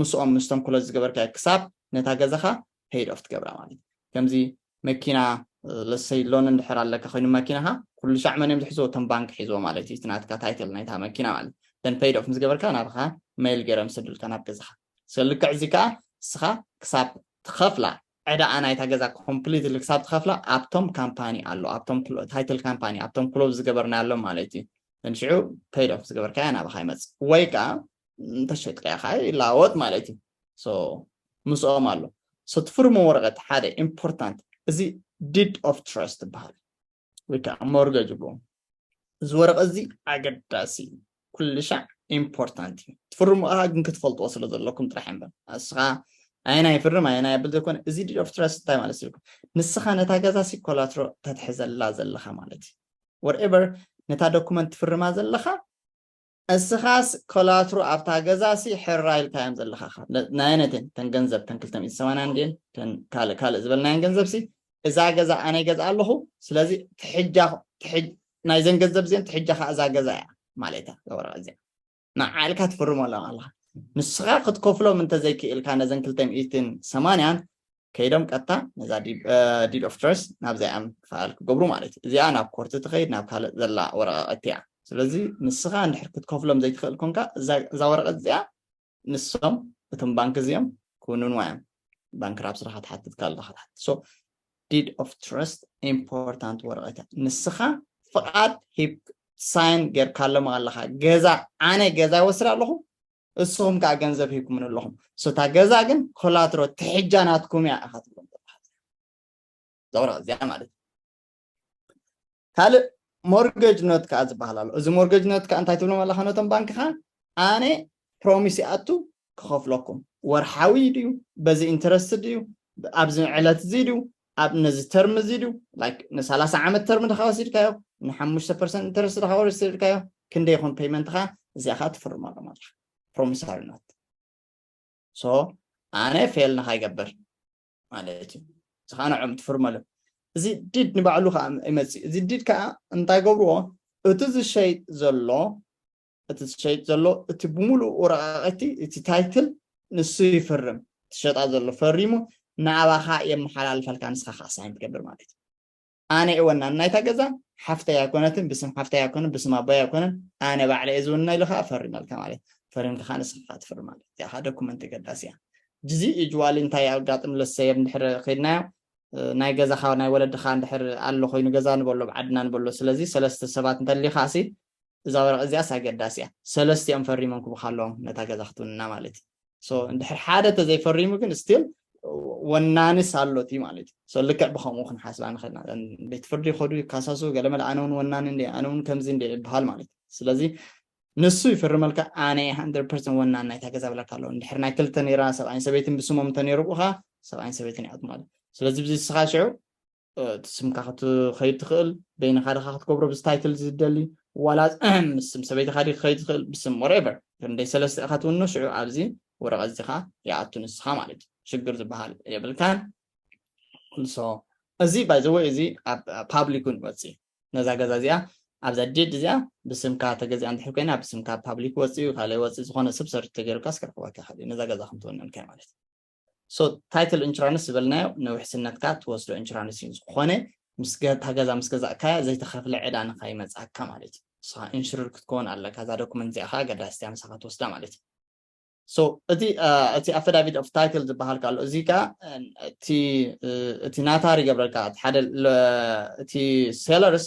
[SPEAKER 1] ምስኦም ምስቶም ክሎዝ ዝገበርካዮ ክሳብ ነታ ገዛኻ ፔይድ ኦፍ ትገብራ ማለት እዩ ከምዚ መኪና ለሰይ ሎን እንድሕር ኣለካ ኮይኑ መኪናካ ኩሉ ሻዕ መን እዮም ዝሕዝዎ እቶም ባንክ ሒዝዎ ማለት እዩ እቲ ናትካ ታይትል ናይታ መኪና ማለት ደን ፔይድ ኦፍ ምስ ገበርካ ናብኻ መይል ገይሮም ዝሰዱልካ ናብ ገዛኻ ስለ ልክዕ እዚ ከዓ ንስኻ ክሳብ ትኸፍላ ዕዳኣ ናይታ ገዛ ኮምፕሊትሊ ክሳብ ትኸፍላ ኣብቶም ካምፓኒ ኣሎ ኣብቶም ታይትል ካምፓኒ ኣብቶም ክሎብ ዝገበርናሎም ማለት እዩ ንሽዑ ፔይድ ኦፍ ዝገበርካያ ናብኻ ይመፅእ ወይ ከዓ እንተሸጥካዮ ከዓ ይለዋወጥ ማለት እዩ ምስኦም ኣሎ ትፍርሞ ወረቀት ሓደ ኢምፖርታንት እዚ ዲድ ኦፍ ትረስት ይበሃል ወይ ከዓ ሞርገጅ ይብልዎ እዚ ወረቀት እዚ ኣገዳሲ እዩ ኩሉ ሻዕ ኢምፖርታንት እዩ ትፍርሙ ከዓ ግን ክትፈልጥዎ ስለ ዘለኩም ጥራሕ እምበር ንስኻ ኣየና ይፍርም ኣየና የብል ዘይኮነ እዚ ዲድ ኦፍ ትረስት እንታይ ማለት እዩ ንስኻ ነታ ገዛ ሲ ኮላትሮ ተትሕዘላ ዘለኻ ማለት እዩ ወርኤቨር ነታ ዶኩመንት ትፍርማ ዘለኻ እስኻስ ኮላትሩ ኣብታ ገዛ ሲ ሕራይ ኢልካዮም ዘለኻ እኻ ናየነይቲ እየን እተን ገንዘብ እተን ክልተ ሚእቲ ሰማንያ እንድየን እተን ካልእ ካልእ ዝበልናየን ገንዘብ ሲ እዛ ገዛ ኣነ ይገዝኣ ኣለኹ ስለዚ ትሕጃ ናይዘን ገንዘብ እዚአን ትሕጃ ከዓ እዛ ገዛ እያ ማለት እያ እዛ ወረቐት እዚኣ ንዓ ኢልካ ትፍርመሎም ኣለኻ ንስኻ ክትከፍሎም እንተዘይክኢልካ ነዘን ክልተ ሚእትን ሰማንያን ከይዶም ቀጥታ ነዛ ዲድ ኦፍ ትረስ ናብዚኣ እዮም ፋይል ክገብሩ ማለት እዩ እዚኣ ናብ ኮርቲ ትኸይድ ናብ ካልእ ዘላ ወረቃቅቲ እያ ስለዚ ንስኻ እንድሕር ክትከፍሎም ዘይትኽእል ኮንካ እዛ ወረቀት እዚኣ ንሶም እቶም ባንክ እዚኦም ክውንንዋ እዮም ባንክ ራብ ስራኻ ትሓትት ካልኻ ትሓትት ሶ ዲድ ኦፍ ትረስት ኢምፖርታንት ወረቀት እያ ንስኻ ፍቃድ ሂብ ሳይን ጌርካሎም ኣለኻ ገዛ ኣነ ገዛ ይወስድ ኣለኹ እስኹም ከኣ ገንዘብ ሂብኩምን ኣለኹም ሶታ ገዛ ግን ኮላትሮ ትሕጃ ናትኩም እያ ኢኻ ትብሎም ዘውራ እዚኣ ማለት ካልእ ሞርገጅ ኖት ከዓ ዝበሃል ኣሎ እዚ ሞርገጅ ኖት ከዓ እንታይ ትብሎም ኣለካ ነቶም ባንክ ከዓ ኣነ ፕሮሚስ ይኣቱ ክኸፍለኩም ወርሓዊ ድዩ በዚ ኢንተረስት ድዩ ኣብዚ ዕለት እዚ ድዩ ኣብ ነዚ ተርም እዚ ድዩ ላይክ ንሳላሳ ዓመት ተርም ድካ ወሲድካዮ ንሓሙሽተ ፐርሰንት ኢንተረስት ድካ ወሲድካዮ ክንደይ ይኮን ፔይመንትካ እዚኣ ከዓ ትፍርሞ ኣሎ ማለት እዩ ፕሮሚሳሪ ኖት ሶ ኣነ ፌል ንካይገብር ማለት እዩ እዚ ከዓ ንዕኦም ትፍርመሉ እዚ ዲድ ንባዕሉ ከዓ ይመፅእ እዚ ዲድ ከዓ እንታይ ገብርዎ እቲ ዝሸይጥ ዘሎ እቲ ዝሸይጥ ዘሎ እቲ ብምሉእ ወረቃቂቲ እቲ ታይትል ንሱ ይፍርም ትሸጣ ዘሎ ፈሪሙ ንኣባኻ የመሓላልፈልካ ንስኻ ከዓ ሳይን ትገብር ማለት እዩ ኣነ እየ ወናን ናይታ ገዛ ሓፍተይ ኣይኮነትን ብስም ሓፍተይ ኣይኮነን ብስም ኣቦይ ኣይኮነን ኣነ ባዕለ እየ ዝውና ኢሉ ከዓ ፈሪመልካ ማለት ፈሪምካ ከዓ ንስካ ትፍር ማለት እዚኣ ከዓ ዶኩመንት ገዳሲ እያ ጅዚ ዩጅዋሊ እንታይ ኣጋጥም ለሰየብ እንድሕር ከይድናዮ ናይ ገዛኻ ናይ ወለድኻ እንድሕር ኣሎ ኮይኑ ገዛ ንበሎ ብዓድና ንበሎ ስለዚ ሰለስተ ሰባት እንተሊኻሲ እዛ ወረቀት እዚኣስ ኣገዳሲ እያ ሰለስቲኦም ፈሪሞም ክቡካ ኣለዎም ነታ ገዛ ክትውንና ማለት እዩ ሶ እንድሕር ሓደ ተዘይፈሪሙ ግን ስቲል ወናንስ ኣሎት እዩ ማለት እዩ ሶ ልክዕ ብከምኡ ክንሓስባ ንኽእልና ቤት ፍርዲ ይኸዱ ይካሳሱ ገለመለ ኣነ እውን ወናኒ እንደ ኣነ እውን ከምዚ እንደ ይበሃል ማለት እዩ ስለዚ ንሱ ይፍርመልካ ኣነ ሃንድረድ ፐርሰንት ወናን ናይታ ገዛ ብለካ ኣለዎ እንድሕር ናይ ክልተ ነይራ ሰብኣይን ሰበይትን ብስሞም እንተነይሩ ብኡኻ ሰብኣይን ሰበይትን ይኣት ማለት እዩ ስለዚ ብዚ ንስኻ ሽዑ እቲ ስምካ ክትኸይድ ትኽእል በይንኻ ድኻ ክትገብሮ ብዚ ታይትል እዚ ዝደሊ ዋላ ምስ ስም ሰበይትኻ ዲ ክኸይድ ዝኽእል ብስም ወሬቨር ክንደይ ሰለስተ ኢኻ ትውኑ ሽዑ ኣብዚ ወረቐት እዚ ከዓ ይኣቱ ንስኻ ማለት እዩ ሽግር ዝበሃል የብልካን ንሶ እዚ ባይዘወይ እዚ ኣብ ፓብሊክ እውን ይወፅእ ነዛ ገዛ እዚኣ ኣብዛ ዴድ እዚኣ ብስምካ ተገዚኣ እንድሕር ኮይና ብስምካ ፓብሊክ ወፅኡ ካልእ ወፅእ ዝኾነ ሰብ ሰርች ተገይሩካስ ክረኽበካ ይኽእል እዩ ነዛ ገዛ ከምትውንን ከ ማለት እዩ So title insurance ዝበልናዮ ንውሕስነትካ ትወስዶ ኢንሹራንስ እዩ ዝኾነ ምስ ገ- እታ ገዛ ምስ ገዛእካያ ዘይተኸፍለ ዕዳ ንኸይመፅኣካ ማለት እዩ ንስኻ ኢንሹርድ ክትከውን ኣለካ እዛ ዶክመንት እዚኣ ከዓ ኣገዳሲት እያ ምሳኻ ትወስዳ ማለት እዩ ሶ እቲ አ፣ እቲ ኣፈዳቪት ኦፍ ታይትል ዝበሃል ካሎ እዚ ከዓ አ፣ እቲ እ፣ እቲ ናታር ይገብረልካ እቲ ሓደ ለ- እቲ ሴለርስ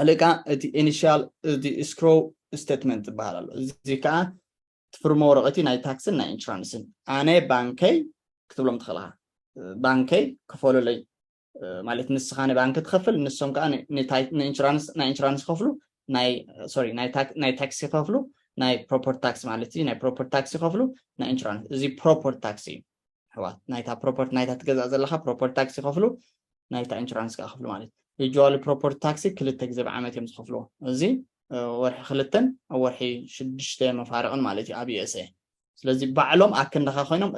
[SPEAKER 1] ኣልእካ እቲ ኢኒሻል እቲ ስክሮ ስቴትመንት ዝበሃል ኣሎ እዚ ከዓ ትፍርሞ ወረቐቲ ናይ ታክስን ናይ ኢንሹራንስን ኣነ ባንከይ ክትብሎም ትኽእልኻ ባንከይ ክፈሉለይ ማለት ንስኻ ንባንኪ ትኸፍል ንሶም ከዓ ናይ ኢንሹራንስ ይኸፍሉ ናይ ሶሪ ናይ ታክሲ ይኸፍሉ ናይ ፕሮፐርቲ ታክሲ ማለት እዩ ናይ ፕሮፐርቲ ታክሲ ይኸፍሉ ናይ ኢንሹራንስ እዚ ፕሮፐርቲ ታክሲ እዩ ኣሕዋት ናይታ ፕሮፐርቲ ናይታ ትገዛእ ዘለካ ፕሮፐርቲ ታክስ ይኸፍሉ ናይታ ኢንሹራንስ ከዓ ክፍሉ ማለት እዩ ዩጅዋሊ ፕሮፐርቲ ታክሲ ክልተ ግዜ ብዓመት እዮም ዝኸፍልዎ እዚ ወርሒ ክልተን ኣብ ወርሒ ሽዱሽተ መፋርቕን ማለት እዩ ኣብ ዩኤስኤ ስለዚ ባዕሎም ኣክንዳኻ ኮይኖም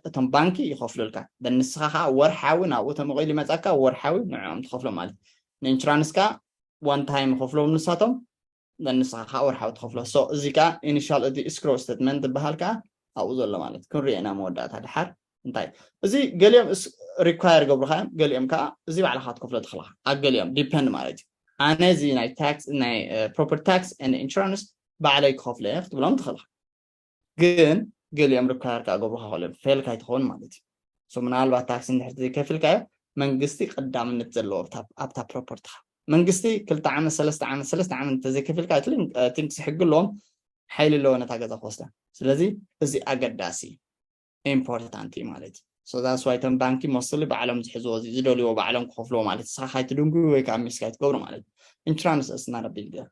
[SPEAKER 1] እቶም ባንኪ ይኸፍሉልካ በንስኻ ከዓ ወርሓዊ ናብኡ ተመቂሉ ይመፃካ ወርሓዊ ንዕኦም ትኸፍሎም ማለት ንኢንሹራንስ ከዓ ዋን ታይም ይኸፍሎም ንሳቶም then ንስኻ ከኣ ወርሓዊ ትኸፍሎ so እዚ ከኣ initial እቲ escrow statement ዝብሃል ከኣ ኣብኡ ዘሎ ማለት ክንሪኦ ኢና መወዳእታ ድሓር እንታይ እዩ እዚ ገሊኦም ሪኳየር ገብሩካ እዮም ገሊኦም ከዓ እዚ ባዕልካ ክትከፍሎ ትኽእልካ ኣብ ገሊኦም ዲፐንድ ማለት እዩ ኣነ እዚ ናይ ታክስ ናይ ፕሮፐርቲ ታክስ ን ኢንሹራንስ ባዕለይ ክኸፍሎ እየ ክትብሎም ትኽእልካ ግን ገሊኦም ርካር ከኣ ገብሩካ ክእሎም ፌል ካይትኸውን ማለት እዩ ሶ ምናልባት ታክሲ እንድሕር ዘይከፊልካዮ መንግስቲ ቀዳምነት ዘለዎ ኣብታ ፕሮፖርትኻ መንግስቲ ክልተ ዓመት ሰለስተ ዓመት ሰለስተ ዓመት እንተዘይከፊልካ ኣይትንክሲ ሕጊ ኣለዎም ሓይሊ ኣለዎ ነታ ገዛ ክወስዳ ስለዚ እዚ ኣገዳሲ እዩ ኢምፖርታንት እዩ ማለት እዩ ሶ ዛትስ ዋይ እቶም ባንኪ ሞስትሊ ባዕሎም ዝሕዝዎ እዚ ዝደልይዎ ባዕሎም ክኸፍልዎ ማለት እዩ ስኻ ካይትድንጉዩ ወይ ከዓ ሚስ ካይትገብሩ ማለት እዩ ኢንሹራንስ እስና ረቢል ገር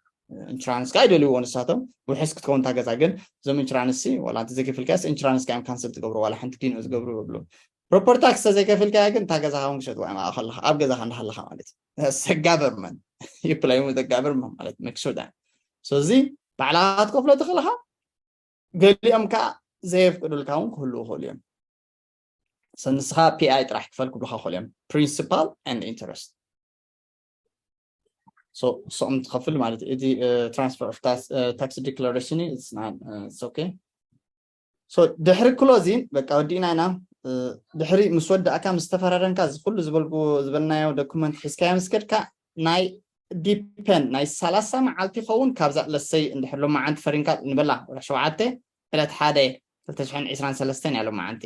[SPEAKER 1] ኢንሹራንስ ከዓ ይደልይዎ ንሳቶም ውሕስ ክትከውን እታ ገዛ ግን እዞም ኢንሹራንስ ሲ ዋላ እንተዘይከፊልካስ ኢንሹራንስ ካዮም ካንስል ትገብሩ ዋላ ሓንቲ ዲኖ ዝገብሩ ይብሉ ፕሮፐር ታክስ ተዘይከፊልካያ ግን እታ ገዛኻ እውን ክሸጥዋ እዮም ኣብኣ ከለኻ ኣብ ገዛኻ እንዳሃለኻ ማለት እዩ ሰጋቨርመን ይፕላይ ዘጋቨርመን ማለት መክሶዳ ስለዚ ባዕላኻ ክትከፍሎ ተኽእልኻ ገሊኦም ከዓ ዘየፍቅዱልካ እውን ክህልው ይኽእሉ እዮም ሰብ ንስኻ ፒኣይ ጥራሕ ክፈል ክብልካ ክኽእሉ እዮም ፕሪንሲፓል ን ኢንተረስት ሰኦም ትኸፍል ማለት እዩ እቲ ትራንስፈር ኦፍ ታክሲ ዲክላሬሽን እዩ ኦኬ ድሕሪ ክሎዚን በቃ ወዲእና ኢና ድሕሪ ምስ ወዳእካ ምስ ተፈራረምካ ዝኩሉ ዝበልናዮ ዶኩመንት ሒዝካዮ ምስ ከድካ ናይ ዲፐን ናይ ሰላሳ መዓልቲ ይኸውን ካብዛ ለሰይ እንድሕር ሎማዓንቲ ፈሪምካ ንበላ ወርሒ ሸውዓተ ዕለት ሓደ ክልተ ሽሕን ዕስራን ሰለስተን እያ ሎማዓንቲ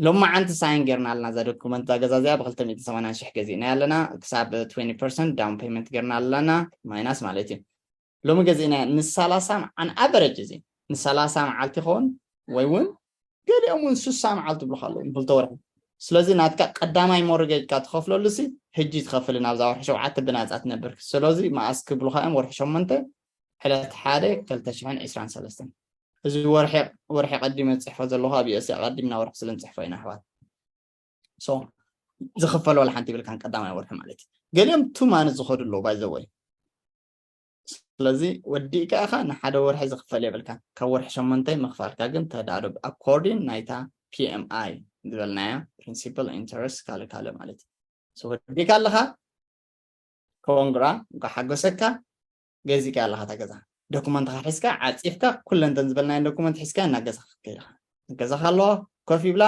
[SPEAKER 1] ሎማዓንቲ ሳይን ጌርና ኣለና እዛ ዶኩመንት እዛ ገዛ እዚኣ ብክልተ ሚእትን ሰማንያን ሽሕ ገዚእናያ ኣለና ክሳብ ትዌኒ ፐርሰንት ዳውን ፔመንት ጌርና ኣለና ማይናስ ማለት እዩ ሎሚ ገዚእና ንሳላሳ ኣን ኣቨረጅ እዚ ንሳላሳ መዓልቲ ይኸውን ወይ እውን ገሊኦም እውን ስሳ መዓልቲ ብልካ ኣለዉ ንክልተ ወርሒ ስለዚ ናትካ ቀዳማይ ሞርገጅካ ትኸፍለሉ ሲ ሕጂ ትኸፍልን ኣብዛ ወርሒ ሸውዓተ ብናፃ ትነብር ስለዚ መኣስ ክብሉካ እዮም ወርሒ ሸሞንተ ዕለት ሓደ ክልተ ሽሕን ዕስራን ሰለስተን እዚ ወርሒ ወርሒ ቀዲመ ዝፅሕፎ ዘለኹ ኣብ ዩኤስ ኣቐዲምና ወርሒ ስለ ንፅሕፎ ኢና ኣሕዋት ሶ ዝኽፈል ዋላ ሓንቲ ይብልካን ቀዳማይ ወርሒ ማለት እዩ ገሊኦም ቱ ማንት ዝኸዱ ኣለዉ ባይዘወይ ስለዚ ወዲእካ ኢኻ ንሓደ ወርሒ ዝኽፈል የብልካን ካብ ወርሒ ሸሞንተ እዩ ምኽፋልካ ግን ተዳሉብ ኣኮርዲን ናይታ PMI ዝበልናያ ፕሪንሲፕል ኢንተረስት ካልእ ካልእ ማለት እዩ so ወዲእካ ኣለኻ ኮንግራ እንኳ ሓጎሰካ ገዚእካ ኣለኻ እታ ገዛ ዶኩመንትኻ ሒዝካ ዓፂፍካ ኩለንተን ዝበልናየን ዶኩመንት ሒዝካ ናብ ገዛኻ ክትከይድ ኢኻ ገዛኻ ኣለዋ ኮፍ ይብላ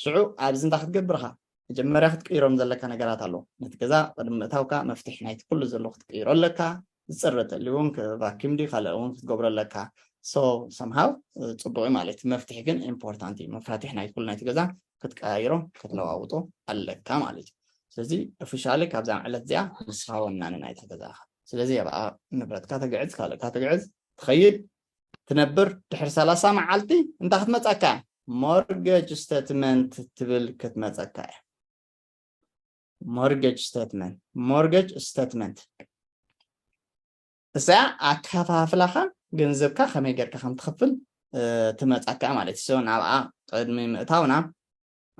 [SPEAKER 1] ሽዑ ኣብዚ እንታይ ክትገብር ኢኻ? መጀመርያ ክትቅይሮም ዘለካ ነገራት ኣሎ። ነቲ ገዛ ቅድሚ ምእታውካ መፍትሕ ናይቲ ኩሉ ዘሎ ክትቅይሮ ኣለካ። ዝጽረ ተልዩ እውን ቫኪዩም ድዩ ካልእ እውን ክትገብሮ ኣለካ። ሶ ሰምሃው ጽቡቕ እዩ ማለት እዩ። መፍትሕ ግን ኢምፖርታንት እዩ። መፋትሕ ናይ ኩሉ ናይቲ ገዛ ክትቀያይሮ ክትለዋውጦ ኣለካ ማለት እዩ። ስለዚ ኦፊሻሊ ካብዛ ዕለት እዚኣ ንስኻ ወናኒ ናይታ ገዛኻ። ስለዚ ኣብኣ ንብረትካ ተግዕዝ ካልእካ ተግዕዝ ትኸይድ ትነብር ድሕሪ ሰላሳ መዓልቲ እንታይ ክትመፀካ እያ ሞርገጅ ስተትመንት ትብል ክትመፀካ እያ ሞርገጅ ስተትመንት ሞርገጅ ስተትመንት እዚኣ ኣከፋፍላኻ ገንዘብካ ከመይ ጌርካ ከም ትኽፍል ትመፃካ ማለት እዩ ንኣብኣ ቅድሚ ምእታውና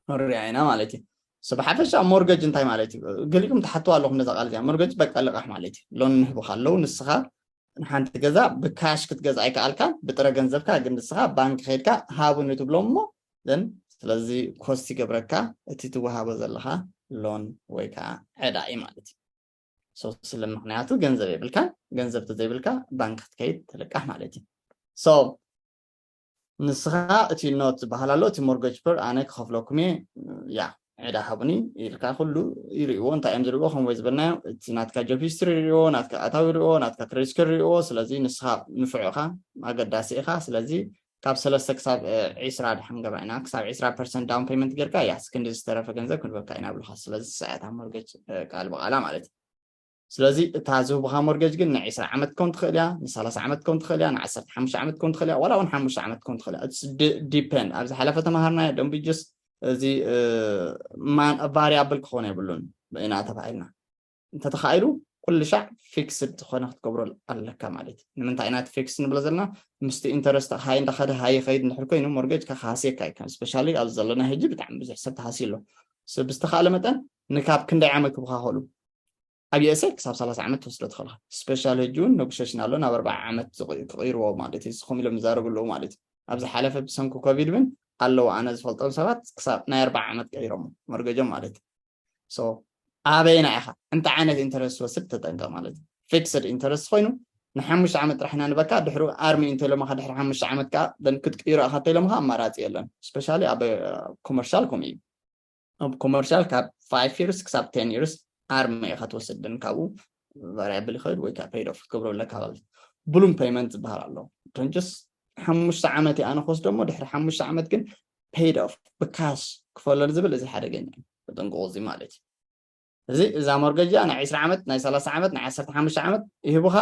[SPEAKER 1] ክንሪኣ ኢና ማለት እዩ So ብሓፈሻ ሞርገጅ እንታይ ማለት እዩ ገሊኹም ትሓትዋ ኣለኹም ነዛ ቃል እዚኣ ሞርገጅ በቃ ልቓሕ ማለት እዩ ሎን ንህቡካ ኣለዉ ንስኻ ንሓንቲ ገዛ ብካሽ ክትገዛ ኣይከኣልካ ብጥረ ገንዘብካ ግን ንስኻ ባንክ ከድካ ሃቡኒ ትብሎም እሞ ዘን ስለዚ ኮስት ይገብረካ እቲ ትወሃቦ ዘለካ ሎን ወይ ከዓ ዕዳ እዩ ማለት እዩ ሶ ስለ ምክንያቱ ገንዘብ የብልካ ገንዘብ ተዘይብልካ ባንክ ክትከይድ ትልቃሕ ማለት እዩ ሶ ንስኻ እቲ ኖት ዝበሃል ኣሎ እቲ ሞርገጅ ፐር ኣነ ክኸፍለኩም እየ ያ ዕዳ ሃቡኒ ኢልካ ኩሉ ይርእዎ እንታይ እዮም ዝርእዎ ከምወይ ዝበልናዮ እቲ ናትካ ጆብ ሂስትሪ ይርእዎ ናትካ ኣታዊ ይርእዎ ናትካ ክሬስከር ይርእዎ ስለዚ ንስኻ ንፍዕ ኢኻ ኣገዳሲ ኢኻ ስለዚ ካብ ሰለስተ ክሳብ ዒስራ ድሓን ገባ ኢና ክሳብ ዒስራ ፐርሰንት ዳውን ፔመንት ጌርካ እያ ክንዲ ዝተረፈ ገንዘብ ክንበካ ኢና ብልካ ስለዚ ሰዓታ ሞርገጅ ቃል ብቃላ ማለት እዩ ስለዚ እታ ዝህቡኻ ሞርገጅ ግን ንዒስራ ዓመት ክከውን ትኽእል እያ ንሳላሳ ዓመት ክከውን ትኽእል እያ ንዓሰርተ ሓሙሽተ ዓመት ክከውን ትኽእል እያ ዋላ እውን ሓሙሽተ ዓመት ክከውን ትኽእል እያ ዲፐንድ ኣብ ዝሓለፈ ተምሃርናዮ ደንቢ ጀስ እዚ ቫሪያብል ክኾነ የብሉን ኢና ተባሂልና እንተተኻኢሉ ኩሉ ሻዕ ፊክስድ ዝኾነ ክትገብሮ ኣለካ ማለት እዩ ንምንታይ ኢና እቲ ፊክስ ንብሎ ዘለና ምስቲ ኢንተረስት ሃይ እንዳኸደ ሃይ ይኸይድ ንድሕር ኮይኑ ሞርገጅ ከካሃስየካ እዩ ስፔሻሊ ኣብዚ ዘለና ህጂ ብጣዕሚ ብዙሕ ሰብ ተሃስዩ ኣሎ ብዝተኻእለ መጠን ንካብ ክንደይ ዓመት ክብካኸሉ ኣብ ዩኤስኤ ክሳብ ሰላሳ ዓመት ትወስዶ ትኽእል ስፔሻል ሕጂ እውን ነጉሸሽን ኣሎ ናብ ኣርባዓ ዓመት ክቕይርዎ ማለት እዩ ንስኹም ኢሎም ይዛረቡ ኣለዉ ማለት እዩ ኣብ ዝሓለፈ ብሰንኩ ኮቪድ እውን ኣለዉ ኣነ ዝፈልጦም ሰባት ክሳብ ናይ ኣርባዓ ዓመት ቀይሮሞ መርገጆም ማለት እዩ ሶ ኣበይና ኢኻ እንታይ ዓይነት ኢንተረስት ትወስድ ተጠንቀቕ ማለት እዩ ፊክስድ ኢንተረስት ኮይኑ ንሓሙሽተ ዓመት ጥራሕ ኢና ንበካ ድሕሪ ኣርሚ እንተኢሎምኻ ድሕሪ ሓሙሽተ ዓመት ከዓ ክትቅይሮ ኢኻ እንተኢሎምኻ ኣማራፂ የለን ስፔሻሊ ኣብ ኮመርሻል ከምኡ እዩ ኣብ ኮመርሻል ካብ ፋይቭ ይርስ ክሳብ ቴን ይርስ ኣርመ ኢኻ ትወስድን ካብኡ ቫሪያብል ይኸድ ወይ ከዓ ፔይድ ኦፍ ክትገብሮ ኣለካ ማለት እዩ ብሉም ፔይመንት ዝበሃል ኣሎ ዶንጀስ ሓሙሽተ ዓመት እየ ኣነ ክወስዶ እሞ ድሕሪ ሓሙሽተ ዓመት ግን ፔይድ ኦፍ ብካሽ ክፈለል ዝብል እዚ ሓደገኛ እዩ ተጠንቅቑ እዚ ማለት እዩ እዚ እዛ ሞርገጅ እዚኣ ናይ ዕስራ ዓመት ናይ ሰላሳ ዓመት ናይ ዓሰርተ ሓሙሽተ ዓመት ይህቡኻ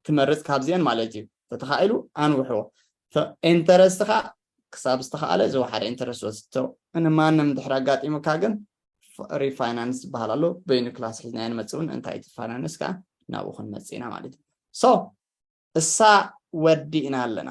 [SPEAKER 1] ትመርጽ ካብዚኤን ማለት እዩ ተተኻኢሉ ኣንውሕዎ ኢንተረስት ከኣ ክሳብ ዝተኻኣለ ዝወሓደ ኢንተረስት ወስቶ ንማንም ድሕሪ ኣጋጢሙካ ግን ሪፋይናንስ ዝበሃል ኣሎ በይኑ ክላስ ሒዝናዮ ንመፅእ እውን እንታይ እቲ ፋይናንስ ከዓ ናብኡ ክንመፅእ ኢና ማለት እዩ ሶ እሳ ወዲእና ኣለና